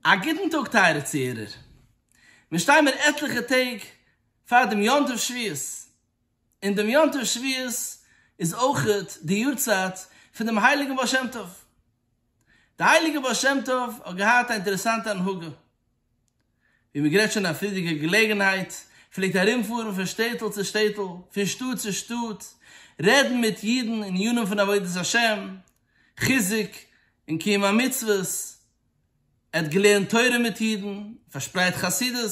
א גוטן טאג טייערע צוהערער, מיר שטיין מיר עטליכע טעג פאר דעם יום טוב שבועות, און דעם יום טוב שבועות איז אויך די יארצייט פון דעם הייליגן בעל שם טוב. די הייליגע בעל שם טוב האט געהאט א אינטערעסאנטע הנהגה, ווי מען גערעדט שוין אין א פריערדיגע געלעגנהייט, פלעגט ארומפארן פון שטעטל צו שטעטל, פון שטאט צו שטאט, רעדן מיט אידן ענינים פון עבודת השם, חיזוק און קיום המצוות, ער האט געלערנט תורה מיט אידן, פארשפרייט חסידות,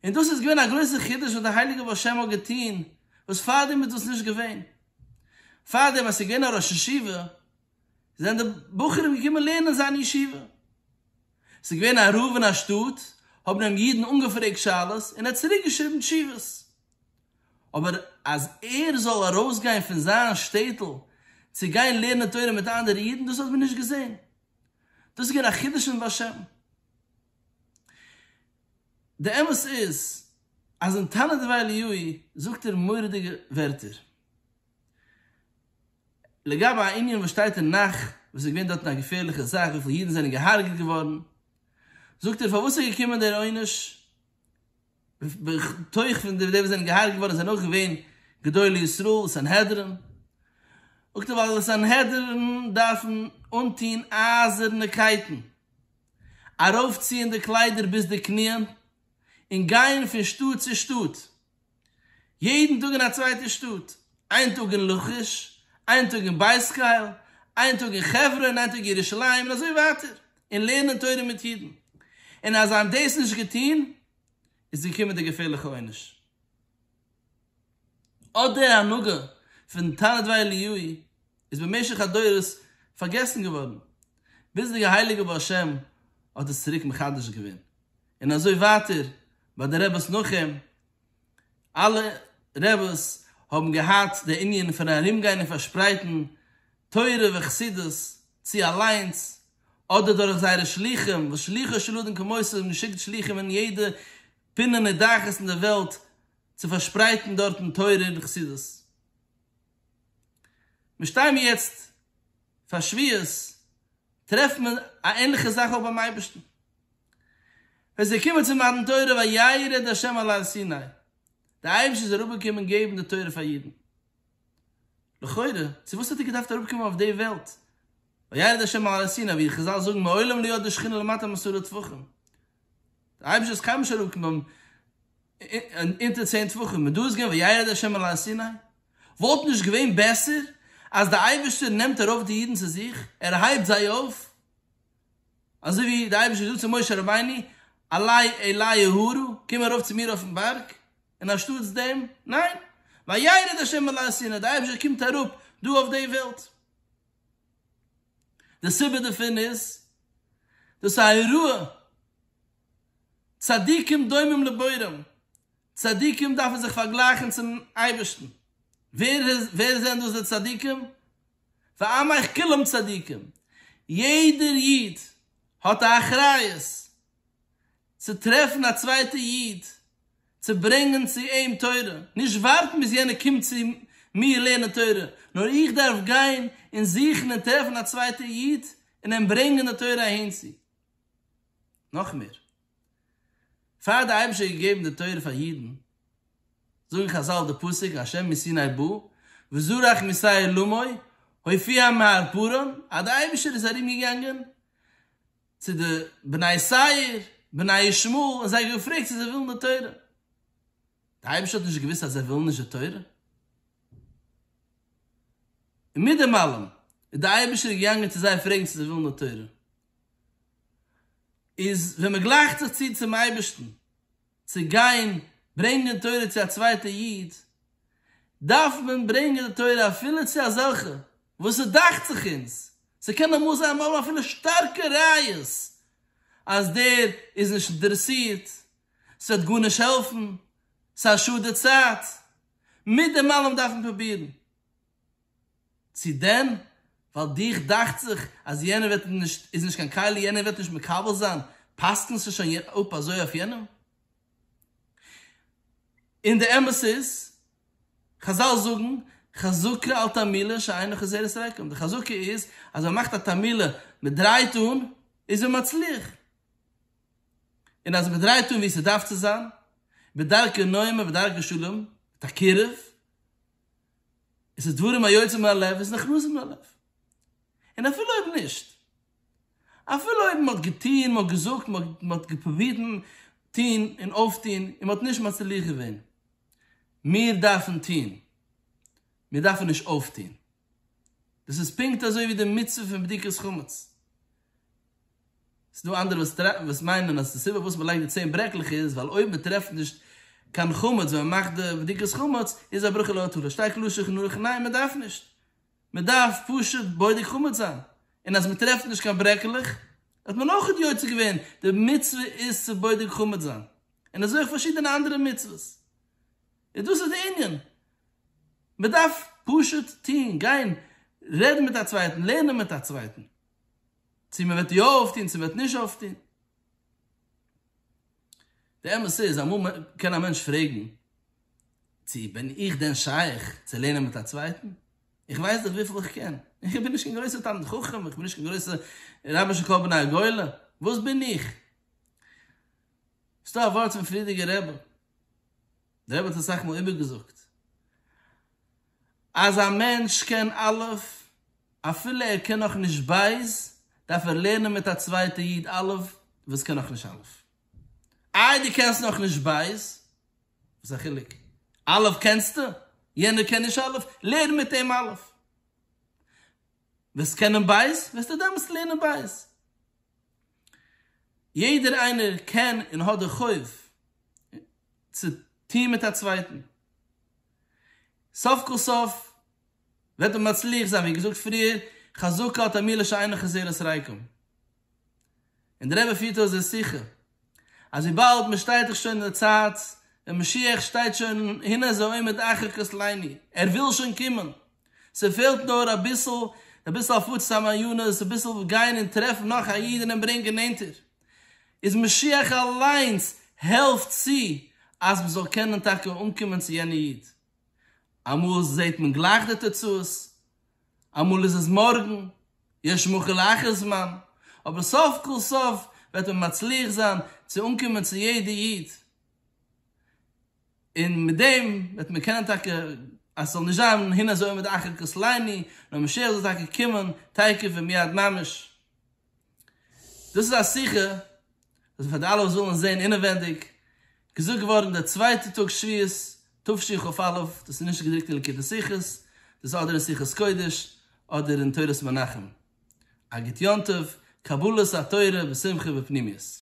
און דאס איז געווען א גרויסע חידוש וואס דער הייליגער בעל שם האט געטון, וואס פארדעם איז דאס נישט געווען. פארדעם אז ס'איז געווען א ראש ישיבה, זענען די בחורים געקומען לערנען אין זיין ישיבה. ס'איז געווען א רב אין א שטאט, האבן אים אידן אנגעפרעגט שאלות און ער האט צוריקגעשריבן תשובות. אבער אז ער זאל ארויסגיין פון זיין שטעטל צו גיין לערנען תורה מיט אנדערע אידן דאס האט מען נישט געזען, דאס איז געווען א חידוש פון בעל שם. די אמת איז אז אין תנא דבי ליאי זאגט ער מורא'דיגע ווערטער. לגבי א ענין וואס שטייט אין נך וואס איז געווען דארטן א געפערליכע זאך וויפיל אידן זענען געהארגעט געווארן, זאגט ער פארוואס איז געקומען דער עונש, בתוך פון די וואס זענען געהרגעט געווארן זענען אויך געווען גדולי ישראל, סנהדרין, זאגט ער ווייל די סנהדרין דארפן אנטוהן אייזערנע קייטן, ארויפציען די קליידער ביז די קניען, און גייען פון שטאט צו שטאט. יעדן טאג אין א צווייטע שטאט, איין טאג אין לכיש, איין טאג אין בית חיל, איין טאג אין חברון, איין טאג ירושלים, און אזוי ווייטער, און לערנען תורה מיט אידן, און אז זיי האבן דאס נישט געטון איז געקומען דער געפערליכער עונש, אט דער הנהגה פון תנא דבי אליהו איז במשך הדורות פארגעסן געווארן, ביז דער הייליגער בעל שם האט עס צוריק מחדש געווען, און אזוי ווייטער ביי די רעבעס נאך אים, אלע רעבעס האבן געהאט די ענין פון ארום גיין און פארשפרייטן תורה וחסידות, צו אליינס אדער דורך זייערע שלוחים, וואס שלוחו של אדם כמותו האבן געשיקט שלוחים אין יעדע פינה נידחת אין די וועלט צו פארשפרייטן דארטן תורה און חסידות. מיר שטיי מיר יעצט פאר שבועות, טרעפן מיר א ענליכע זאך אויך ביים אייבערשטן, ווען זיי קומען צו מתן תורה וירד ה' על הר סיני, דער אייבערשטער איז אראפגעקומען געבן די תורה פאר אידן, לכאורה צו וואס האט ער געדארפט אראפקומען אויף די וועלט, וירד ה' על הר סיני ווי חזל זאגן מעולם לא ירד די שכינה למטה מעשרה טפחים, דער אייבערשטער איז קיינמאל נישט אראפגעקומען אונטער צען טפחים, און דא איז געווען וירד ה' על הר סיני, וואלט נישט געווען בעסער אז דער אייבערשטער נעמט ארויף די אידן צו זיך, ער הייבט זיי אויף אזוי ווי דער אייבערשטער זאגט צו משה רבינו, אלי אלי אהרה, קום ארויף צו מיר אויפן בארג, און אנשטאטס דעם, ניין, וירד השם אל הר סיני, דער אייבערשטער קומט אראפ דא אויף די וועלט. די סיבה דערפון איז, דאס איז א אירוע, צדיקים דומים לבוראם, צדיקים דארפן זיך פארגלייכן צום אייבערשטן. ווער זענען דאס די צדיקים? ועמך כולם צדיקים. יעדער איד האט א אחריות צו טרעפן א צווייטע איד צו ברענגען צו אים תורה, נישט ווארטן ביז יענער קומט צו מיר לערנען תורה, נאר איך דארף גיין און זוכן און טרעפן א צווייטע איד און אים ברענגען די תורה אהינצו. נאך מער. פאר די אייבישטער האט געגעבן די תורה פאר אידן, זאגן חזל די פסוק אשר מסיני בא וזרח מישראל למאי הופיע מהר פרען אז די אייבישטער איז ארום געגאנגען צו די בני סעיר בני ישמעאל און זיי געפרעגט צו זיי ווילן די תורה, די אייבישטער האט נישט געוואוסט אז זיי ווילן נישט די תורה? און מיט דעם אלעם איז די אייבישטער געגאנגען צו זיי פרעגן צו זיי ווילן די תורה. איז ווען מען גלייכט זיך צו צום אייבערשטן צו גיין ברענגען תורה צו א צווייטע איד, דארף מען ברענגען די תורה אפילו צו אזעלכע וואס ס'דאכט זיך אונז, ס'קען אמאל זיין מיר האבן אפילו שטארקע ראיות אז דער איז נישט אינטערעסירט, ס'וועט גארנישט העלפן, ס'איז א שאד די צייט, מיט דעם אלעם דארף מען פרובירן. צו דען ווייל דיך דאכט זיך אז יענער וועט נישט איז נישט קיין כלי יענער וועט נישט מקבל זיין פסק'נסטו שוין אפ אזוי אויף יענעם? און די אמת איז, חזל זאגן חזקה על תרמילא שאינו חוזר את הריקם, די חזקה איז אז ווען מ'מאכט א תרמילא, מ'דרייט אן, איז מען מצליח, און אז מ'דרייט אן ווי ס'דארף צו זיין, בדרכי נועם ובדרכי שלום, מיט א קירוב, עס איז דברים היוצאים מן הלב איז נכנסים ללב. און אפילו אויב נישט, אפילו אויב מען האט געטון, מען האט געזאגט, מען האט געפרובירט טון און אויפטון און מען האט נישט מצליח געווען, מיר דארפן טון, מיר דארפן נישט אויפטון. דאס איז פונקט אזוי ווי די מצוה פון בדיקת חמץ. ס'דא אנדערע וואס מיינען אז די סיבה פארוואס מ'לייגט די צען ברעקלעך איז ווייל אויב מ'טרעפט נישט קיין חמץ ווען מ'מאכט די בדיקת חמץ איז א ברכה לא עטרה, שטייט קלאר שולחן ערוך ניין מ'דארף נישט, מ'דארף פשוט בודק חמץ זיין, און אז מ'טרעפט נישט קיין ברעקלעך האט מען אויך יוצא געווען די מצוה איז צו בודק חמץ זיין, און אזוי אויך פארשידענע אנדערע מצוות, איז דאס איז די ענין, מ'דארף פשוט טון, גיין, רעדן מיט א צווייטן, לערנען מיט א צווייטן. צו מען וועט יא אויפטון צו מען וועט נישט אויפטון. די אמת איז אמאל קען א מענטש פרעגן, צו בין איך דען שייך צו לערנען מיט א צווייטן? איך ווייס דאך וויפיל איך קען, איך בין נישט קיין גרויסער תלמיד חכם, איך בין נישט קיין גרויסער רבי של כל בני הגולה, וואס בין איך? ס'דא א ווארט פון פרידיגער רבי, דער רבי האט עס אסאך מאל איבערגעזאגט, אז א מענטש קען א', אפילו ער קען נאך נישט ב', דארף ער לערנען מיט א צווייטע איד א' וואס קען נאך נישט א'. איי דו קענסט נאך נישט ב'? וואס איז א חילוק? א' קענסטו, יענער קען נישט א', לערן מיט אים א'. וועסט קענען ב', וועסטו דעמאלטס לערנען ב'. יעדער איינער קען און האט די חוב צו טון מיט א צווייטן. סוף כל סוף וועט מען מצליח זיין, ווי געזאגט פריער, חזקה האט א מילה שאינה חסרת ריקם. און דער רבי פירט אויס דער שיחה, אז וויבאלד מען שטייט דאך שוין אין די צייט ווען משיח שטייט שוין הנה זה עומד אחר כסלינו, ער וויל שוין קומען, ס'פעלט נאר אביסל, אביסל הפצת המעיינות, אביסל גיין און טרעפן נאך א איד און אים ברענגען נענטער. איז משיח אליינס העלפט צו אז מען זאל קענען טאקע אנקומען צו יענע איד. אמאל זעט מען גלייך די תוצאות, אמאל איז עס מארגן, יש מכה לאחר זמן, אבער סוף כל סוף וועט מען מצליח זיין צו אנקומען צו יעדע איד, און מיט דעם וועט מען קענען טאקע אז ס'זאל נישט זיין הנה זה עומד אחר כסלינו, נאר משיח זאל טאקע קומען תיכף ומיד ממש. דאס איז א שיחה וואס איז פאר די אלע וואס ווילן עס זען אינעווענדיג, געזאגט געווארן די צווייטע טאג שביעית תשי ח אא וו, דאס איז נישט געדרוקט אין ליקוטי שיחות, דאס איז אדער אין שיחות קודש אדער אין תורת מנחם, א גוט יום טוב, קבלת התורה בשמחה ופנימיות.